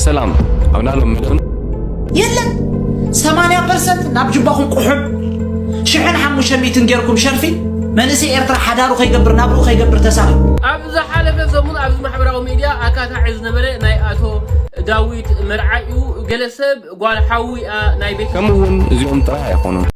ሰላም ኣብ ናሎም ምድርን የለን ሰማንያ ፐርሰንት ናብ ጅባኹም ቁሑብ ሽሕን ሓሙሽተ ሚእትን ጌርኩም ሸርፊ መንእሰይ ኤርትራ ሓዳሩ ከይገብር ናብርኡ ከይገብር ተሳኺ ኣብ ዝሓለፈ ሰሙን ኣብዚ ማሕበራዊ ሚድያ ኣካታዒ ዝነበረ ናይ ኣቶ ዳዊት መርዓዩ ገለ ሰብ ጓል ሓዊ እያ ናይ ቤት ከምኡ እውን እዚኦም ጥራይ ኣይኮኑን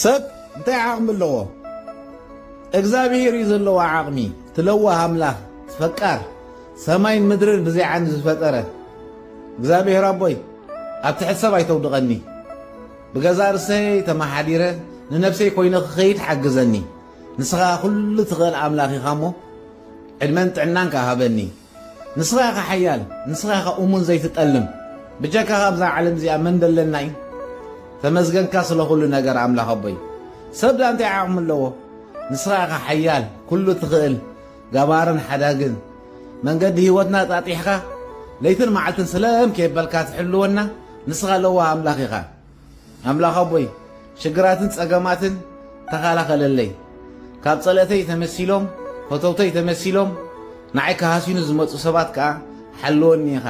ሰብ እንታይ ዓቕሚ ኣለዎ? እግዚኣብሔር እዩ ዘለዎ ዓቕሚ ትለዋህ ኣምላኽ ፈቃር ሰማይን ምድርን ብዘይ ዓንዲ ዝፈጠረ እግዚኣብሔር ኣቦይ ኣብ ትሕቲ ሰብ ኣይተውድቐኒ ብገዛ ርእሰይ ተመሓዲረ ንነብሰይ ኮይነ ክኸይድ ሓግዘኒ ንስኻ ኩሉ ትኽእል ኣምላኽ ኢኻ እሞ ዕድመን ጥዕናን ከሃበኒ ንስኻ ኢኻ ሓያል ንስኻ ኢኻ ኡሙን ዘይትጠልም ብጀካኻ ኣብዛ ዓለም እዚኣ መን ደለና እዩ ተመስገንካ ስለ ኩሉ ነገር ኣምላኽ ኣቦይ ሰብ ድኣ እንታይ ዓቕሚ ኣለዎ ንስኻ ኢኻ ሓያል ኩሉ ትኽእል ገባርን ሓዳግን መንገዲ ህይወትና ኣጣጢሕኻ ለይትን መዓልትን ስለም ከይበልካ ትሕልወና ንስኻ ለዋህ ኣምላኽ ኢኻ ኣምላኽ ኣቦይ ሽግራትን ጸገማትን ተኻላኸለለይ ካብ ጸለእተይ ተመሲሎም ፈተውተይ ተመሲሎም ንዓይ ክሃሲኑ ዝመጹ ሰባት ከኣ ሓልወኒ ኢኻ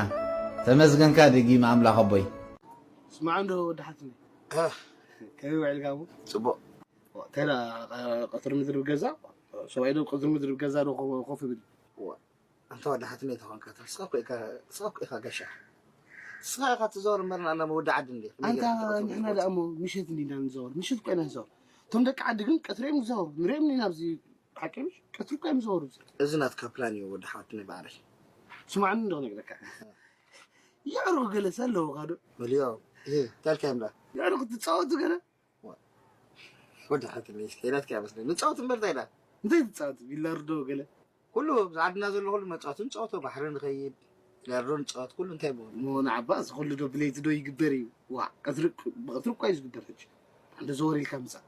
ተመስገንካ ደጊመ ኣምላኽ ኣቦይ። ስማዕ እንዶ ወዲ ሓትነይ ከመይ ውዒልካ እሞ ጽቡቕ እንታይ ደኣ ቀትሪ ምድሪ ብገዛ ሰብኣይ ዶ ቅድሪ ምድሪ ብገዛ ዶ ኮፍ ይብል ኣንታ ወዲ ሓትነይ ተኾንካ ትስሕቅ እኮ ኢካ ትስሕቅ ኢካ ጋሻ ንስኻ ኢኻ ትዞር እምበር ንኣና ወዲ ዓዲ እንዲ ኣንታ ንሕና ደኣ እሞ ምሸት እንዲና ንዞር ምሸት እኮ ኢና ንዞር እቶም ደቂ ዓዲ ግን ቀትሪ እዮም ዝዞሩ ንሪኦም እንዲና ኣብዚ ሓቂ ቀትሪ እኮ እዮም ዝዞሩ እዚ ናትካ ፕላን እዩ ወዲ ሓወት ናይ ባዕለይ ስማዕኒ እንዶ ክነግረካ የዕሩኽ ገለሰ ኣለውኻ ዶ መልዮ እንታይ ኢልካዮም ደኣ የዕሩኽ ትፃወቱ ገለ ወዲ ሓንቲ ለይስ ሌላት ከያ መስለ ንፃወት እምበር እንታይ ኢላ እንታይ ትፃወት ቢላርዶ ገለ ኩሉ ኣብዚ ዓድና ዘሎ ኩሉ መፃወቲ ንፃወቶ ባሕሪ ንኸይድ ቢላርዶ ንፃወት ኩሉ እንታይ ብሆን እሞ ንዓባ እዚ ኩሉ ዶ ብለይቲ ዶ ይግበር እዩ ዋ ቀትሪ ብቐትሪ እኳ እዩ ዝግበር ሕጂ እንደ ዘወር ኢልካ ምፃእ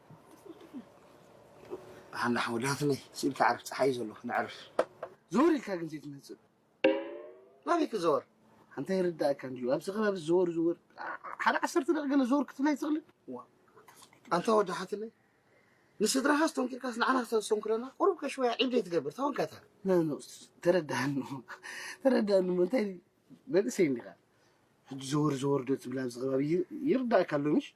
ብሓንዳ ሓወዳትነይ ስኢልካ ዕርፍ ፀሓይ እዩ ዘሎ ንዕርፍ ዘወር ኢልካ ግን ዘይትመፅእ ናበይ ክዘወር ኣንታይ ይርዳእካ እንድዩ ኣብዚ ከባቢ ዝዘወር ዝወር ሓደ ዓሰርተ ደቂ ገለ ዘወር ክትብል ኣይትኽእልን ኣንታ ወዲ ሓትለይ ንስድራኻ ስተንኪርካስ ንዓና ክተስተንክረና ቁሩብ ከሽወያ ዒብ ዘይትገብር ተወንካታ ነኖስ ተረዳእኑ ተረዳእኑ እንታይ መንእሰይ እንዲኻ ሕጂ ዘወር ዘወር ዶ ትብል ኣብዚ ከባቢ ይርዳእካ ኣሎ ምሽ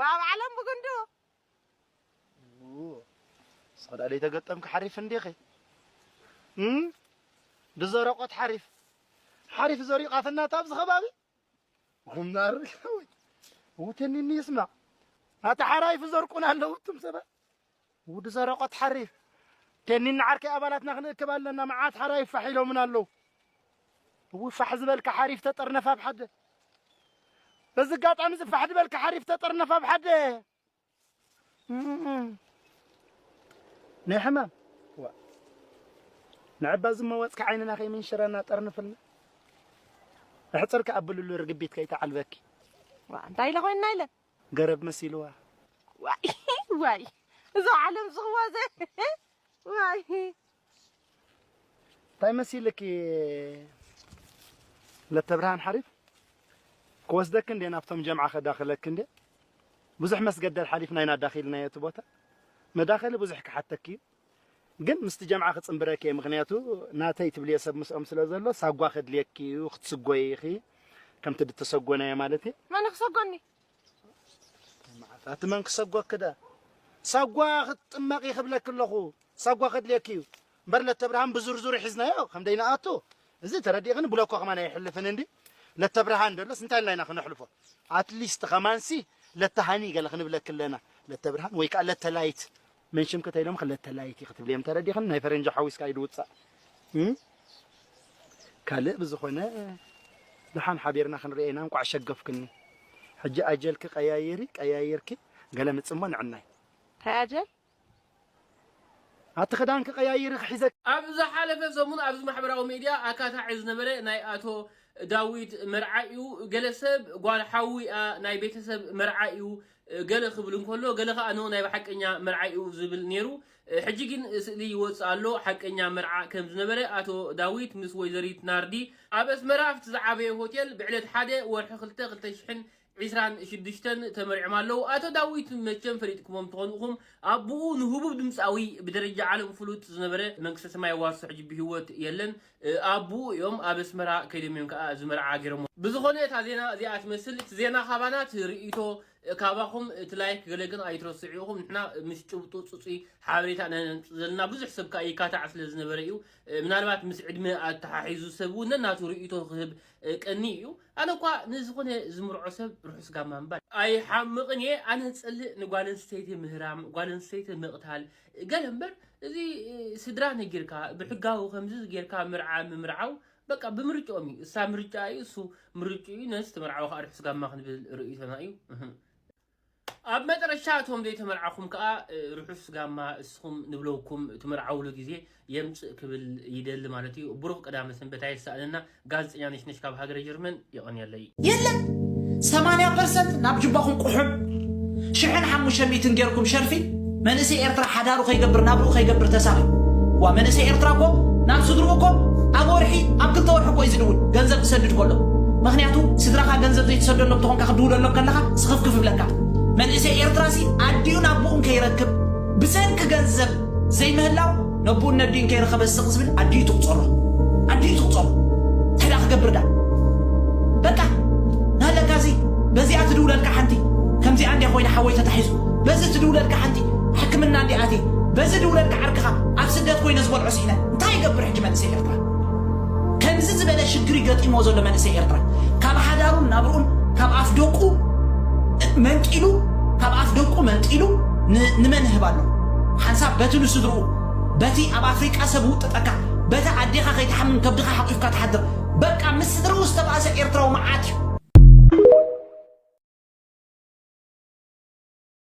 ዋው ዓለም ብጉንዱ ንስኺ ደኣ ዘይተገጠምኪ ሓሪፍ እንዲኺ ብዘረቆት ሓሪፍ ሓሪፍ ዘሪኡ ቃፍናት ኣብዚ ከባቢ ጉማር ውትንኒ ይስማዕ ኣታ ሓራይፍ ዘርቁን ኣለዉ እቱም ሰባት ውዲ ዘረቆት ሓሪ ደኒና ዓርከይ ኣባላትና ክንእክብ ኣለና መዓት ሓራይ ፋሕ ኢሎምን ኣለው እው ፋሕ ዝበልካ ሓሪፍ ተጠርነፍ ኣብ ሓደ በዚ ኣጋጣሚ እዚ ፋሕ ዝበልካ ሓሪፍ ተጠርነፍ ኣብ ሓደ ናይ ሕማም ንዕባ ዝመወፅካ ዓይንና ከይምንሽረና ጠርንፍልና እሕፅርካ ኣብልሉ ርግቢት ከይተዓልበኪ እንታይ ኢለ ኮይንና ኢለ ገረብ መሲልዋ ዋይ ዋይ እዛ ዓለም ዝኽዋዘ ዋይ እንታይ መሲልኪ ለተብርሃን ሓሪፍ ክወስደኪ እንዴ ናብቶም ጀምዓ ከዳኽለኪ እንዴ ብዙሕ መስገደል ሓሊፍና ኢና ዳኺልናዮ እቲ ቦታ መዳኸሊ ብዙሕ ክሓተኪ እዩ ግን ምስቲ ጀምዓ ክጽንብረኪ እየ ምክንያቱ ናተይ ትብልዮ ሰብ ምስኦም ስለ ዘሎ ሳጓ ከድልየኪ እዩ ክትስጎይ ኢኺ ከምቲ ድተሰጎናዮ ማለት እየ መን ክሰጎኒ ኣቲ መን ክሰጎኪ ደ ሳጓ ክትጥመቂ ክብለኪ ኣለኹ ሳጓ ከድልየኪ እዩ እምበር ለተብርሃን ብዝርዝሩ ሒዝናዮ ከም ደይንኣቱ እዚ ተረዲእኽኒ ብሎኮ ከማን ኣይሕልፍን እንዲ ለተብርሃን ደሎስ እንታይ ኢልና ኢና ክነሕልፎ ኣትሊስት ከማንሲ ለተሃኒ ገለ ክንብለኪ ኣለና ለተብርሃን ወይ ከዓ ለተላይት መን ሽምኪ ተይሎም ክለተ ላይክ ክትብልየም ተረዲኽን ናይ ፈረንጂ ሓዊስካ ኢዱ ውጻእ ካልእ ብዝኾነ ድሓን ሓቢርና ክንርኤ ኢና እንቋዕ ሸገፍክኒ ሕጂ ኣጀልኪ ቀያይሪ ቀያይርኪ ገለ ምጽሞ ንዕናይ ታይ ኣጀል ኣቲ ክዳንኪ ቀያይሪ ክሒዘ ኣብ ዝሓለፈ ሰሙን ኣብዚ ማሕበራዊ ሚድያ ኣካታዒ ዝነበረ ናይ ኣቶ ዳዊት መርዓ እዩ። ገለ ሰብ ጓል ሓዉ እያ ናይ ቤተሰብ መርዓ እዩ ገለ ክብል እንከሎ ገለ ከኣ ን ናይ ብሓቀኛ መርዓ'ዩ ዝብል ኔሩ ሕጂ ግን ስእሊ ይወጽእ ኣሎ ሓቀኛ መርዓ ከም ዝነበረ ኣቶ ዳዊት ምስ ወይዘሪት ናርዲ ኣብ ኣስመራ ኣብቲ ዝዓበየ ሆቴል ብዕለት ሓደ ወርሒ ክልተ ክልተ ሽሕን ዒስራን ሽዱሽተን ተመሪዕም ኣለዉ ኣቶ ዳዊት መቸም ፈሊጥክሞም ትኾኑ ኢኹም ኣቡኡ ንህቡብ ድምጻዊ ብደረጃ ዓለም ፍሉጥ ዝነበረ መንግስተ ሰማይ የዋርሶ ሕጂ ብሂወት የለን ኣቡኡ እዮም ኣብ ኣስመራ ከይዶም እዮም ከኣ እዚ መርዓ ገረሞ። ብዝኮነ እታ ዜና እዚኣ ትመስል እቲ ዜና ካባና እቲ ርእይቶ ካባኩም እቲ ላይክ ገለ ግን ኣይትረስዑ ኢኩም ንሕና ምስ ጭብጡ ጽጹይ ሓበሬታ ኢና ነምጽእ ዘለና ብዙሕ ሰብ ከኣ ይካታዕ ስለ ዝነበረ እዩ ምናልባት ምስ ዕድመ ኣተሓሒዙ ሰብ ውን ነናቱ ርእይቶ ክህብ ቀንይ እዩ ኣነ እኳ ንዝኮነ ዝምርዖ ሰብ ርሑስ ጋማ ምባል ኣይሓምቕን እየ ኣነ ዝጸልእ ንጓል ኣንስተይቲ ምህራም ጓል ኣንስተይቲ ምቕታል ገለ እምበር እዚ ስድራ ነጊርካ ብሕጋዊ ከምዚ ጌርካ ምርዓ ምምርዓው በቃ ብምርጭኦም እዩ እሳ ምርጫ እዩ እሱ ምርጭኡ እዩ ነዚ ዝተመርዓወ ከዓ ርሑስ ጋማ ክንብል ርእይቶና እዩ ኣብ መጠረሻ እቶም ዘይተመርዓኹም ከዓ ርሑስ ጋማ እስኹም ንብለውኩም ትምርዓውሉ ግዜ የምጽእ ክብል ይደሊ ማለት እዩ። ብሩኽ ቀዳመ ሰንበት ኣየሳእነና። ጋዜጠኛ ነሽነሽ ካብ ሃገረ ጀርመን የቐንየለይ። የለን ሰማንያ ፐርሰንት ናብ ጅባኹም ቁሑም ሽሕን ሓሙሽተ ሚእትን ጌርኩም ሸርፊ መንእሰይ ኤርትራ ሓዳሩ ከይገብር ናብርኡ ከይገብር ተሳኺ ዋ መንእሰይ ኤርትራ እኮ ናብ ስድርኡ እኮ ኣብ ወርሒ ኣብ ክልተ ወርሒ እኮ እዩ ዝድውል ገንዘብ ክሰድድ ከሎ ምክንያቱ ስድራካ ገንዘብ ዘይትሰደሎም ተኾንካ ክድውለሎም ከለካ ስኽፍክፍ ይብለካ መንእሰይ ኤርትራ ሲ ኣዲኡን ኣቦኡን ከይረክብ ብሰንኪ ገንዘብ ዘይምህላው ነቡኡን ነዲኡን ከይረኸበ ስቕ ዝብል ኣዲኡ ትቑጸሮ ኣዲኡ ትቑጸሮ እንታይ ደኣ ክገብር ደኣ በቃ ናለካ እዚ በዚኣ ትድውለልካ ሓንቲ ከምዚኣ እንዲያ ኮይነ ሓወይ ተታሒዙ በዚ ትድውለልካ ሓንቲ ሕክምና እንዲኣ ኣትየ በዚ ድውለልካ ዓርክኻ ኣብ ስደት ኮይነ ዝበልዖ ስሒነ እንታይ ይገብር ሕጂ መልሰ ኢለካ ከምዚ ዝበለ ሽግሪ ገጢምዎ ዘሎ መንእሰይ ኤርትራ ካብ ሓዳሩን ናብርኡን ካብ ኣፍ ደቁ መንጢሉ ካብ ኣፍ ደቁ መንጢሉ ንመን ይህብ ኣሎ ሓንሳብ በቲ ንስድርኡ በቲ ኣብ ኣፍሪቃ ሰብ ውጥጠካ በታ ኣዴኻ ከይትሓምም ከብድኻ ሓቂፍካ ትሓድር በቃ ምስ ስድርኡ ዝተባእሰ ኤርትራዊ መዓት እዩ።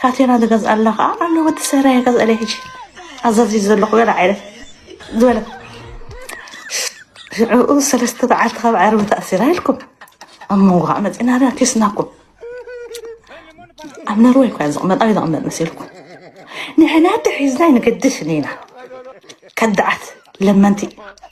ካቴና ዝገዝኣላ ከዓ ኣሎ ወዲ ሰራየ ገዝኣለይ ሕጂ ኣዛዚ ዘለኹ ገለ ዓይነት ዝበለ ሽዕኡ ሰለስተ በዓልቲ ካብ ዓርቢ ተኣሲራ ኢልኩም ኣብ መንጎ ከዓ መፂና ዳ ኪስናኩም ኣብ ነርወይ እኳ ዝቕመጥ ኣበይ ዝቕመጥ መሲልኩም ንሕና ተሒዝና ይንገድሽ እኒና ከዳዓት ለመንቲ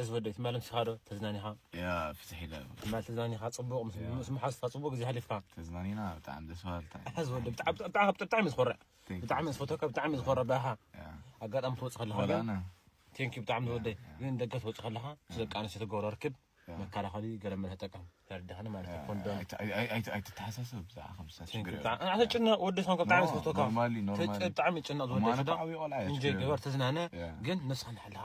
እዚ ወደይ ትማል ኣምሲኻ ዶ ተዝናኒኻ? ያ ፍትሕ ኢለ ትማል ተዝናኒኻ ፅቡቕ ምስ መሓዙትካ ፅቡቕ ግዜ ኣሕሊፍካ ተዝናኒና ብጣዕሚ ደስ በሃልታ ሕዚ ወደ ብጣዕሚ ዝኮርዕ ብጣዕሚ ዝፈትወካ ብጣዕሚ ዝኮርዕ ብኣኻ ኣጋጣሚ ትወፅእ ከለኻ ግን ቴንኪ ብጣዕሚ ዝወደይ ግን ደገ ትወፅእ ከለኻ ምስ ደቂ ኣንስትዮ ትገብሮ ርክብ መከላኸሊ ገለ መለ ተጠቀም ተረዳኸኒ ማለት እዩ ኮንዶም ኣይትተሓሳሰብ ብዛዕባ ከምሳ ችግር ጭነቕ ወዲ ዝኾንከ ብጣዕሚ ዝፈትወካ ብጣዕሚ ጭነቕ ዝወደ እንጀ ገበር ተዝናነ ግን ነስኻ ንሓልኻ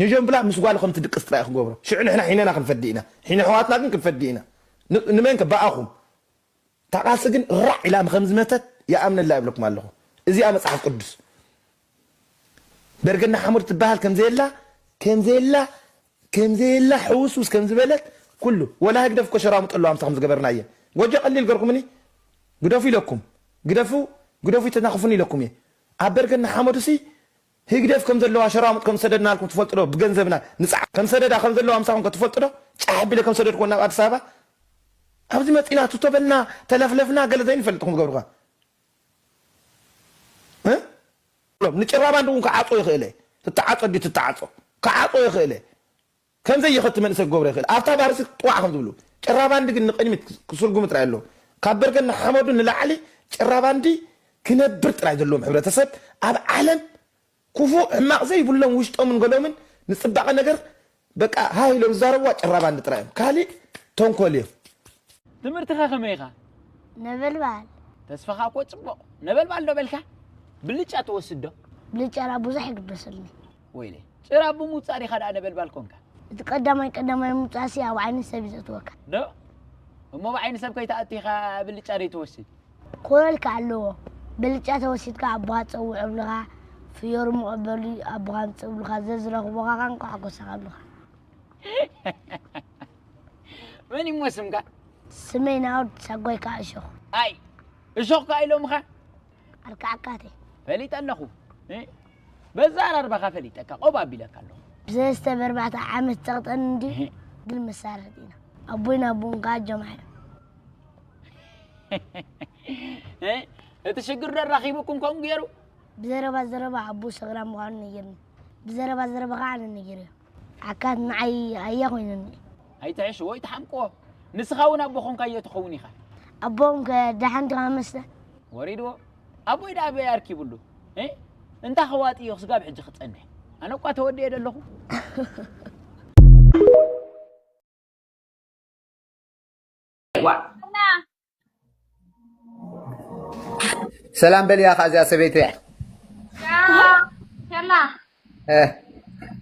ኘጀምብላ ምስ ጓሉ ከም ትድቅስ ጥራይ እዩ ክገብሮ ሽዑ ንሕና ሒነና ክንፈዲ ኢና ሒነ ኣሕዋትና ግን ክንፈዲ ኢና ንመን ከ ብኣኹም እታ ቃልሲ ግን ራዕ ኢላ ከም ዝመተት ይኣምነላ ይብለኩም ኣለኹ እዚኣ መጽሓፍ ቅዱስ በርገና ሓሙር ትበሃል ከም ዘየላ ከም ዘየላ ከም ዘየላ ሕውስውስ ከም ዝበለት ኩሉ ወላ ህግደፍ እኮ ሸራሙጥ ኣለዋ ምሳኹም ዝገበርና እየ ጎጆ ቀሊል ገርኩምኒ ግደፉ ኢለኩም ግደፉ ግደፉ ይተናኽፉኒ ኢለኩም እየ ኣብ በርገና ሓመዱሲ ህግደፍ ከም ዘለዋ ሸራሙጥ ከም ዝሰደድናልኩም ትፈልጡ ዶ ብገንዘብና ንጽዓር ከም ሰደዳ ከም ዘለዋ ምሳኹም ከ ትፈልጡ ዶ ጫሕ ኣቢለ ከም ዝሰደድክወን ናብ ኣዲስ ኣበባ ኣብዚ መጺና ቱቶ በልና ተለፍለፍና ገለ ዘይንፈልጥ ኢኹም ትገብሩ ከ እ ንጭራባንዲ እውን ክዓጾ ይኽእለ ትተዓጾ ድዩ ትተዓጾ ክዓጾ ይኽእለ ከምዘይ ይኸቲ መንእሰይ ክገብሮ ይኽእል ኣብታ ባርሲ ጥዋዕ ከም ዝብሉ ጭራባንዲ ግን ንቅድሚት ክስርጉሙ ጥራይ ኣለዎ ካብ በርገና ሓመዱ ንላዕሊ ጭራባንዲ ክነብር ጥራይ ዘለዎም ሕብረተሰብ ኣብ ዓለም ኩፉእ ሕማቅ ዘይብሎም ውሽጦምን ገሎምን ንጽባቀ ነገር በቃ ሃህ ኢሎም ዝዛረብዋ ጭራባንዲ ጥራይ እዮም ካሊእ ተንኮል እዮ። ትምህርትከ ከመይ ኢኻ? ነበልባል። ተስፋኻ እኮ ጽቡቕ። ነበልባል ዶ በልካ? ብልጫ ትወስድ ዶ? ብልጫ ቡዙሕ ይግደሰልኒ። ወይኔ ጭራ ብምውጻእ ዲኻ ደኣ ነበልባል ኮንካ? እቲ ቀዳማይ ቀዳማይ ምውጻእሲ ኣብ ዓይኒ ሰብ እዩ ዘእትወካ። ዶ እሞ ኣብ ዓይኒ ሰብ ከይትኣቱ ኢኻ ብልጫ ዘይትወስድ? ክኾነልካ ኣለዎ ብልጫ ተወሲድካ ኣቦኻ ጸውዕ እብልኻ፣ ፍዮሪ ሞቕ በሊ ኣቦኻ ኣምጽእ እብልኻ፣ ዘዝረኽቡኻ ከኣ እንቋዕ ጎሳኻ እብልኻ። መን እዩ እሞ ስምካ? ስመይ ናኦድ ሳጓይ ከኣ እሾኽ። ኣይ እሾኽ ከኣ ኢሎምኻ? ኣርካዕካተይ። ፈሊጠ ኣለኹ። በዛራርባኻ ፈሊጠካ ቆብ ኣቢለካ ኣለኹ። ብሰለስተ በርባዕተ ዓመት ጸቕጠን እንዲ ግን መሳርሕት ኢና ኣቦይን ኣቦን ከዓ ጀማዕ እቲ ሽግር ደራኺቡኩም ከምኡ ገይሩ ብዘረባ ዘረባ ኣቦ ሰግራ ምዃኑ ነጊርኒ ብዘረባ ዘረባ ከዓ ኣነ ነጊርዮ ሓካት ንዓይ ኣያ ኮይነኒ። ኣይትሕሽ ወይ ትሓምቅዎ ንስኻ ውን ኣቦ ኮንካዮ ትኸውን ኢኻ። ኣቦኦም ከ ደሓን ድኻ መስተ። ወሪድዎ ኣቦይ ደኣ ኣበይ ኣርኪብሉ እህ እንታ ከዋጥዮ ክስጋብ ሕጂ ክጸንሕ ኣነ እኳ ተወዲኤ ደለኹ። ሰላም በልያ ከ እዚኣ ሰበይቲ እያ ሸላ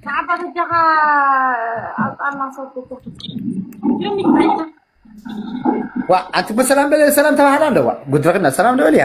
ንዓባ በጃኻ ኣጣና ሰብኩ ዋ ኣንቲ በሰላም በለ ሰላም ተባህላ ኣለዋ ጉድረክና ሰላም ንበልያ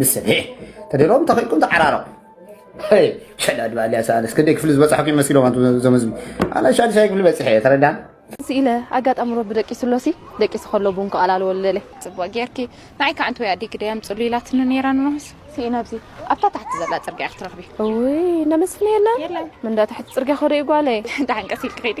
ንስን ሄ ተደሎም ተኺእልኩም ተዓራረቑ ሸዳድ ባልያ ሰኣነስ ክንደይ ክፍሊ ዝበፅሐኩ ይመስሎም እዞም ህዝቢ ኣነ ሻድሻይ ክፍሊ በፂሐ እየ ተረዳ ስኢለ ኣጋጣሚ ረቢ ደቂሱ ኣሎሲ ደቂሱ ከሎ ቡን ክቐላልዎ ልደለ ፅቡቅ ጌርኪ ንዓይ ከዓ እንትወይ ኣዴ ግደያ ምፅሉ ኢላትኒ ነይራ ንኖስ ስኢነ ኣብዚ ኣብታ ታሕቲ ዘላ ፅርግያ ክትረኽቢ እውይ እንዳመስፍን የለን ምንዳ ታሕቲ ፅርግያ ከዶ እዩ ጓለይ ዳሓን ቀስ ኢልኪ ከይዲ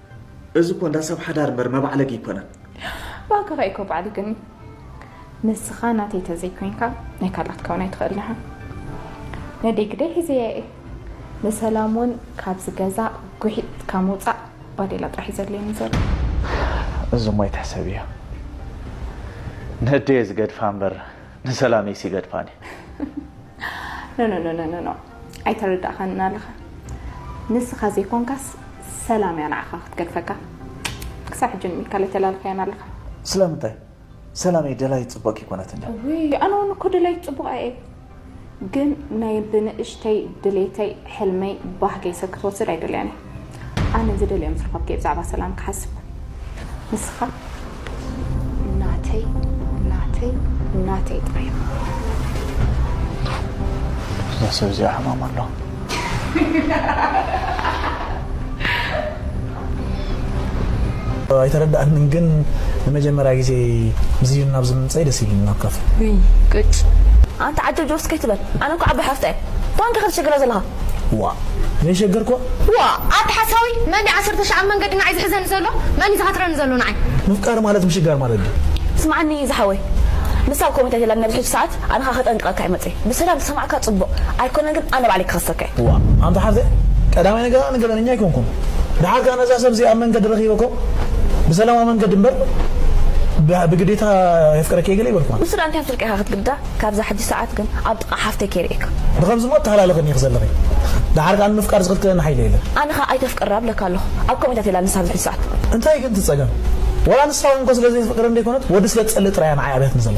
እዚ እኮ እንዳ ሰብ ሓዳር እምበር መባዕለጊ ኣይኮነን። ባክ ኸእ እኮ ባዕሊ ግን ንስኻ ናተይ ተዘይኮይንካ ናይ ካልኣት ከውን ኣይትኽእልን ኢኻ ነደይ ግደይ ሒዘያ እየ ንሰላም ውን ካብዚ ገዛ ጉሒጥ ካብ ምውጻእ ባዴላ ጥራሕ እዩ ዘድልየኒ ዘሎ። እዙ እሞ ኣይትሕሰብዮ ነደየ ዝገድፋ እምበር። ንሰላመይ ሲ ገድፋኒ። ኖኖኖኖኖ ኣይተረዳእካንን ኣለኻ ንስኻ ዘይኮንካስ ሰላም እያ ንዓኻ ክትገድፈካ ክሳብ ሕጂ ንምልካ ለተላልካያን ኣለኻ። ስለምንታይ ሰላመይ ደላይት ጽቡቅ ከይኮነት እንድያ። ውይ ኣነ ውን እኮ ደላይት ጽቡቅ ኣየ። ግን ናይ ብንእሽተይ ድሌተይ ሕልመይ ባህገይ ሰብ ክትወስድ ኣይደልያን እየ ኣነ ዝደልዮ ምስ ረኸብክየ ብዛዕባ ሰላም ክሓስብ ንስኻ ናተይ ናተይ ናተይ ጥራይ እዛ ሰብ እዚኣ ሕማም ኣለዋ ኣይተረዳኣንን ግን ንመጀመርያ ግዜ ዝዩን ናብ ዝምንፀይ ደስ ኢሉኒ ናብ ካፈ ቅጭ ኣንተ ዓጀ ጆርስ ከይትበል ኣነ እኮ ዓባይ ሓፍታ እየ ኳንከ ከተሸግረ ዘለኻ ዋ ዘይሸገርኮ ዋ ኣንተ ሓሳዊ መን ድዩ ዓሰርተ ሸዓ መንገዲ ንዓይ ዝሕዘኒ ዘሎ መን እዩ ዝሃትረኒ ዘሎ ንዓይ ምፍቃር ማለት ምሽጋር ማለት ድዩ ስምዓኒ ዝሓወይ ንሳ ኣብ ኮመንት ኣይተላን ኣብዚ ሕጂ ሰዓት ኣነ ከኣ ከጠንቅቀካ እየ መጽየ ብሰላም ዝሰማዕካ ጽቡቅ ኣይኮነን ግን ኣነ ባዕለይ ክከሰካ እየ። እዋ ኣንታ ሓፍተይ ቀዳማይ ነገር ኣነ ገበነኛ ኣይኮንኩን ደሓር ከኣ ነዛ ሰብ እዚኣ ኣብ መንገዲ ረኪበኩም ብሰላማዊ መንገዲ እምበር ብግዴታ የፍቅረኪ እየ ገለ ኣይበልኩዋን። ንሱ ደኣ እንታይ ኣፍልጥካ ኢካ ክትግድዳ ካብዛ ሕጂ ሰዓት ግን ኣብ ጥቃ ሓፍተይ ከይርእየካ። ብከምዚ እሞ ኣተሃላልክን ኢኪ ዘለኪ ደሓር ከኣ ንምፍቃር ዝክልክለኒ ሓይሊ የለን። ኣነ ከኣ ኣይተፍቅር ኣብለካ ኣለኩ ኣብ ከምኡ ኢንታትላ ንሳ ኣብዚ ሕጂ ሰዓት። እንታይ ግን እቲ ጸገም ወላ ንሳ ውን እኮ ስለ ዘይትፍቅረኒ ደይኮነት ወዲ ስለ ትጸልእ ጥራይ እያ ንዓይ ኣብያትኒ ዘላ።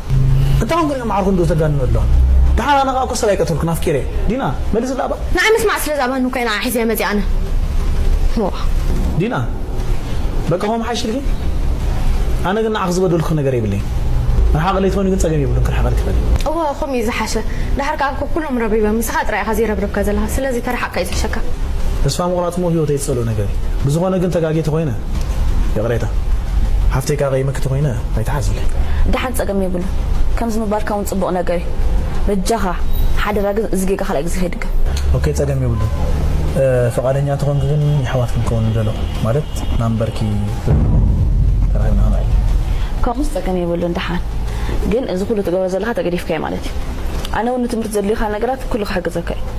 እታ ውን ገሊኦም ዓርኹ እንዶ ተጋንኑ ኣላ ደሓን ኣነ ከኣ እኮ ሰብ ኣይቀተልኩን ኣፍቂረ ዲና መልስላ እባ። ንዓይ ምስማዕ ስለ ዝኣበኒ እኮ እየ ንዓ ሒዘያ መጺኣ ኣነ ዋእ። ዲና በቃ ከምኡ ምሓይሽልኪ ኣነ ግን ንዓኺ ዝበደልኩኺ ነገር የብለይን ርሓቂ ለይቲ ኮይኑ ግን ጸገም የብሉን ክርሕቀልኪ ይኽእል እየ። እወ ከምኡ እዩ ዝሓሸ ደሓር ከኣ እኮ ኩሎም ረብሪበም ንስኻ ጥራይ ኢኻ ዘይረብርብካ ዘለኻ ስለዚ ተርሓቅካ እዩ ዝሕሸካ። ተስፋ ምቑራጽ እሞ ህይወተይ ዝጸልኦ ነገር እዩ ብዝኾነ ግን ተጋግየ ተኾይነ ይቕሬታ ሓፍተይ ከኣቐይመኪ ተኾይነ ኣይትሓዝኒ። ደሓን ጸገም የብሉን ከምዚ ምባልካ ውን ጽቡቕ ነገር እዩ በጃኻ ሓደራ ግን እዚ ጌጋ ካልኣይ ግዜ ከይድገም። ኦኬ ጸገም የብሉን ፍቓደኛ እንተኾንኪ ግን የሕዋት ክንከውን ንደሎ ማለት ናምበርኪ ፍልጥለይ ተራኺብና ክንዕልል። ከምኡስ ጸገም የብሉን ደሓን ግን እዚ ኩሉ ትገብሮ ዘለኻ ተገዲፍካዮ ማለት እዩ ኣነ ውን ንትምህርቲ ዘድልዩኻ ነገራት ኩሉ ክሕግዘካ እዩ።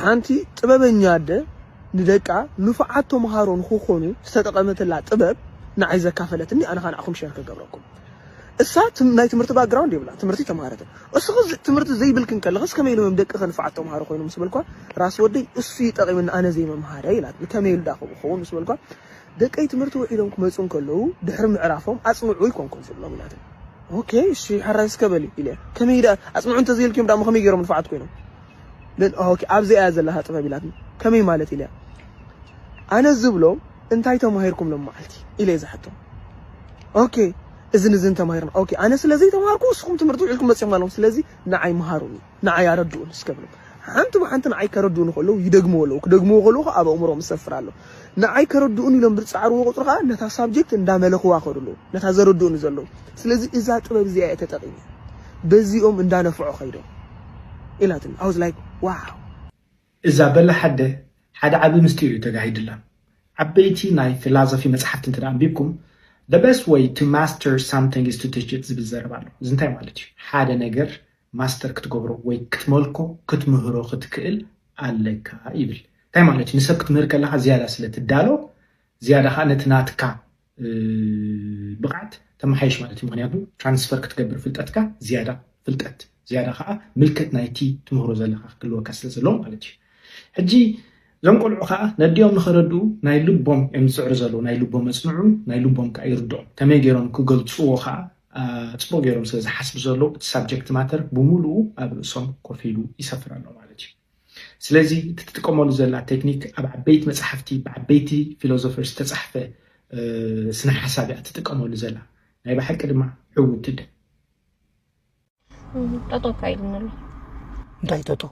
ሓንቲ ጥበበኛ ኣደ ንደቃ ንፉዓት ተምሃሮ ንኽኾኑ ዝተጠቐመትላ ጥበብ ንዓይ ዘካፈለትኒ ኣነ ከኣ ንዓኹም ሸር ክገብረኩም። እሳ ናይ ትምህርቲ ባክግራውንድ የብላን፣ ትምህርቲ ኣይተምሃረትን። እስኺ ትምህርቲ ዘይብልክን ከለኽስ ከመይ ኢሎም እዮም ደቅኺ ንፉዓት ተምሃሮ ኮይኖም ምስ በልክዋ፣ ራስ ወደይ እሱ እዩ ጠቒምኒ ኣነ ዘይምምሃረይ ኢላትኒ። ከመይ ኢሉ ደኣ ከምኡ ክኸውን ምስ በልክዋ፣ ደቀይ ትምህርቲ ውዒሎም ክመጹ እንከለዉ ድሕሪ ምዕራፎም ኣጽንዑ ኣይኮንኩን ዝብሎም ኢላትኒ። ኦኬ እሺ ሕራይ እስከ በሊ ኢለያ። ከመይ ደኣ ኣጽንዑ እንተዘይልክዮም ደኣሞ ከመይ ገይሮም ንፉዓት ኮይኖም? ን ኦኬ ኣብዚኣ እያ ዘላታ ጥበብ ኢላትኒ ከመይ ማለት ኢለያ ኣነ ዝብሎም እንታይ ተማሂርኩም ሎማዓልቲ ኢለ ዝሓቶም ኦኬ እዝን እዝን ተማሂርና ኦኬ ኣነ ስለ ዘይተማሃርኩ ንስኹም ትምህርቲ ውዒልኩም መፂኹም ኣለኹም ስለዚ ንዓይ መሃሩኒ ንዓይ ኣረድኡን እስከ ብሎም ሓንቲ ብሓንቲ ንዓይ ከረድኡኒ ከለዉ ይደግምዎ ኣለዉ ክደግምዎ ከለዉ ኣብ ኣእምሮኦም ይሰፍር ኣሎ ንዓይ ከረድኡኒ ኢሎም ብዝጻዕርዎ ቁጽሪ ከኣ ነታ ሳብጀክት እንዳመለኽዋ ከዱ ኣለዉ ነታ ዘረድኡኒ ዘለዉ ስለዚ እዛ ጥበብ እዚኣ እየ ተጠቂመ በዚኦም እንዳነፍዑ ከይዶም ኢላትኒ ኣወዝ ላይክ ዋው። እዛ በላሕ ኣደ ሓደ ዓቢ ምስጢር እዩ ተጋሂድላ። ዓበይቲ ናይ ፍላዞፊ መጽሓፍቲ እንተ ኣንቢብኩም the best way to master something is to teach it ዝብል ዘረባ ኣሎ። እዚ እንታይ ማለት እዩ ሓደ ነገር ማስተር ክትገብሮ ወይ ክትመልኮ፣ ክትምህሮ ክትክእል ኣለካ ይብል። እንታይ ማለት እዩ? ንሰብ ክትምህር ከለኻ ዝያዳ ስለ ትዳሎ፣ ዝያዳ ከኣ ነቲ ናትካ ብቕዓት ተመሓይሽ ማለት እዩ። ምኽንያቱ ትራንስፈር ክትገብር ፍልጠትካ ዝያዳ ፍልጠት፣ ዝያዳ ከኣ ምልከት ናይቲ ትምህሮ ዘለኻ ክህልወካ ስለ ዘለዎ ማለት እዩ። ሕጂ እዞም ቆልዑ ከኣ ነዲኦም ንኸረድኡ ናይ ልቦም እዮም ዝጽዕሩ ዘለዉ፣ ናይ ልቦም ኣጽንዑ፣ ናይ ልቦም ከኣ ይርድኦም። ከመይ ገይሮም ክገልጽዎ ከኣ ጽቡቕ ገይሮም ስለ ዝሓስቡ ዘለዉ እቲ ሳብጀክት ማተር ብምሉኡ ኣብ ርእሶም ኮፍ ኢሉ ይሰፍር ኣሎ ማለት እዩ። ስለዚ እቲ ትጥቀመሉ ዘላ ቴክኒክ ኣብ ዓበይቲ መጽሓፍቲ ብዓበይቲ ፊሎዞፈር ዝተጻሕፈ ስነ ሓሳብ እያ ትጥቀመሉ ዘላ ናይ ብሓቂ ድማ ዕውትቲ ጠጦ ካይልን ኣሎ እንታይ ጠጦ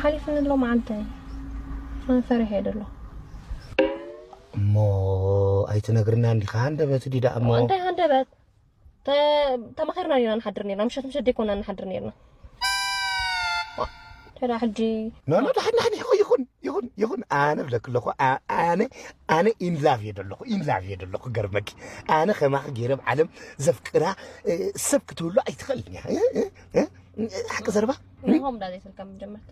ሓሊፍኒ ኣሎ መዓልቲ ፈሪሐ ደሎ እሞ ኣይትነግርና እንዲኻ ሃንደበት ዲዳ እሞ እንታይ ሃንደበት ተማኺርና ኔርና ንሓድር ኔርና ምሸት ምሸት ደይኮና ንሓድር ኔርና ይኹን ይኹን ይኹን ኣነ ብለክ ኣለኹ ኣነ ኣነ ኢንላቭ እየ ዘለኹ ኢንላቭ እየ ዘለኹ ገርመኪ ኣነ ከማኺ ገይረ ኣብ ዓለም ዘፍቅራ ሰብ ክትህሉ ኣይትኽእልን እያ ሓቂ ዘረባ ንሆም ዳዘይ ስልካ ምጀመርካ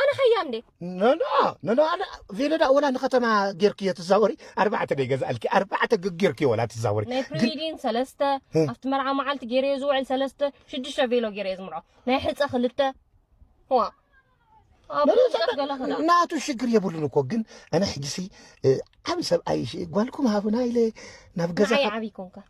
ኣነ ኸያ እንዴ ነና ነና ኣነ ቬለዳ ወላ ንከተማ ጌርኪ እየ ትዛወሪ ኣርባዕተ ደይ ገዛእልኪ ኣርባዕተ ጌርኪ ወላ ትዛወሪ ናይ ፕሪዲን ሰለስተ ኣብቲ መርዓ መዓልቲ ጌረ እየ ዝውዕል ሰለስተ ሽዱሽተ ቬሎ ጌረ እየ ዝምርዖ ናይ ሕፀ ክልተ ዋ ናቱ ሽግር የብሉን እኮ ግን ኣነ ሕጂሲ ዓብ ሰብኣይ ጓልኩም ሃቡና ኢለ ናብ ገዛ ዓብይ ኮንካ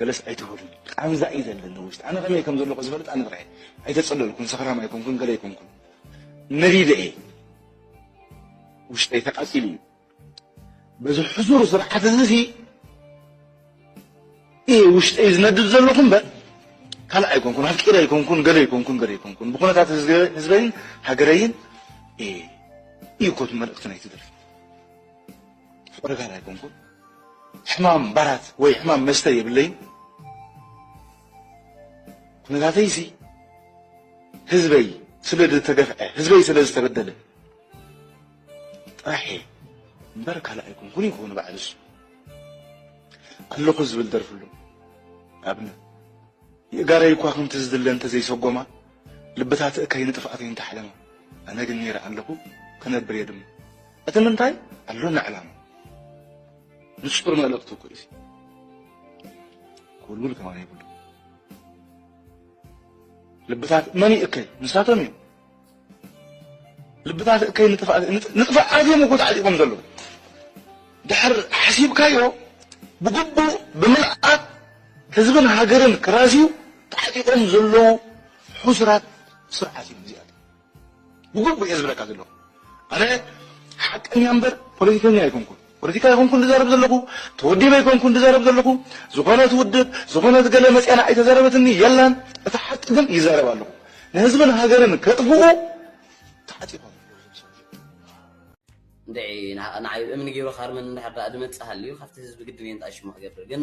ገለስ ኣይትበሉኒ ቃንዛ እዩ ዘለኒ ውሽጢ ኣነ ከመይ ከም ዘለኹ ዝፈልጥ ኣነ ጥራይ ኣይተጸለልኩን ሰኽራም ኣይኮንኩን ገለ ኣይኮንኩን ነቢበ እየ ውሽጠይ ተቃጺሉ እዩ በዚ ሕዙር ስርዓት እዚ ሲ እየ ውሽጠይ ዝነድድ ዘለኹ እምበር ካልእ ኣይኮንኩን ኣፍቂረ ኣይኮንኩን ገለ ኣይኮንኩን ገለ ኣይኮንኩን ብኩነታት ህዝበይን ሃገረይን እዩ ኮት መልእኽቲ ናይቲ ደርፊ ዕርጋን ኣይኮንኩን ሕማም ባራት ወይ ሕማም መስተ የብለይን ኩነታተይ እዚ ህዝበይ ስለ ዝተገፍዐ ህዝበይ ስለ ዝተበደለ ጥራሕ እየ እምበር ካልእ ኣይኮንኩን ይኮኑ ባዕሉ እሱ ኣለኹ ዝብል ደርፍሉ ኣብነት የእጋረይ እኳ ከምቲ ዝድለ እንተዘይሰጎማ ልብታት እከይ ንጥፍኣተይ እንተሓለማ ኣነ ግን ነይረ ኣለኹ ክነብር እየ ድማ እቲ ምንታይ ኣሎና ዕላማ ንጹር መልእኽቱ እኮ እዩ ኩልጉል ከማን ይብሉ ልብታት መን ይእከይ ንሳቶም እዮም ልብታት እከይ ንጥፋእ ንጥፋእ ኣዝዮም እኮ ተዓጢቆም ዘለዉ ድሕር ሓሲብካዮ ብግቡእ ብምልኣት ህዝብን ሃገርን ክራዝዩ ተዓጢቆም ዘለዉ ሕሱራት ስርዓት እዮም እዚኣ ብግቡእ እየ ዝብለካ ዘለኹ ኣነ ሓቀኛ እምበር ፖለቲከኛ ኣይኮንኩን ፖለቲካ ኣይኮንኩን ዝዛረብ ዘለኹ ተወዲበ ኣይኮንኩን ዝዛረብ ዘለኹ ዝኾነት ውድብ ዝኾነት ገለ መፅያና ኣይተዛረበትኒ የላን እቲ ሓቂ ግን ይዛረብ ኣለኹ ንህዝብን ሃገርን ከጥፍኡ ተዓጢቆም ንዓይ እምኒ ገይሩ ካርመን እንድሕር ድኣ ድመፅእ ሃልዩ ካብቲ ህዝቢ ግድን እየ ንጣይ ሽሙ ክገብር ግን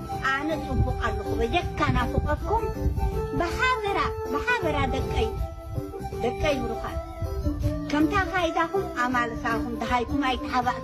ኣነ ጽቡቅ ኣለኹ በጀካ ናፉቀኩም ብሓበራ ብሓበራ ደቀይ ደቀይ ብሩኻት ከምታ ካይዳኹም ኣማልሳኹም ደሃይኩም ኣይተሓባእኩ።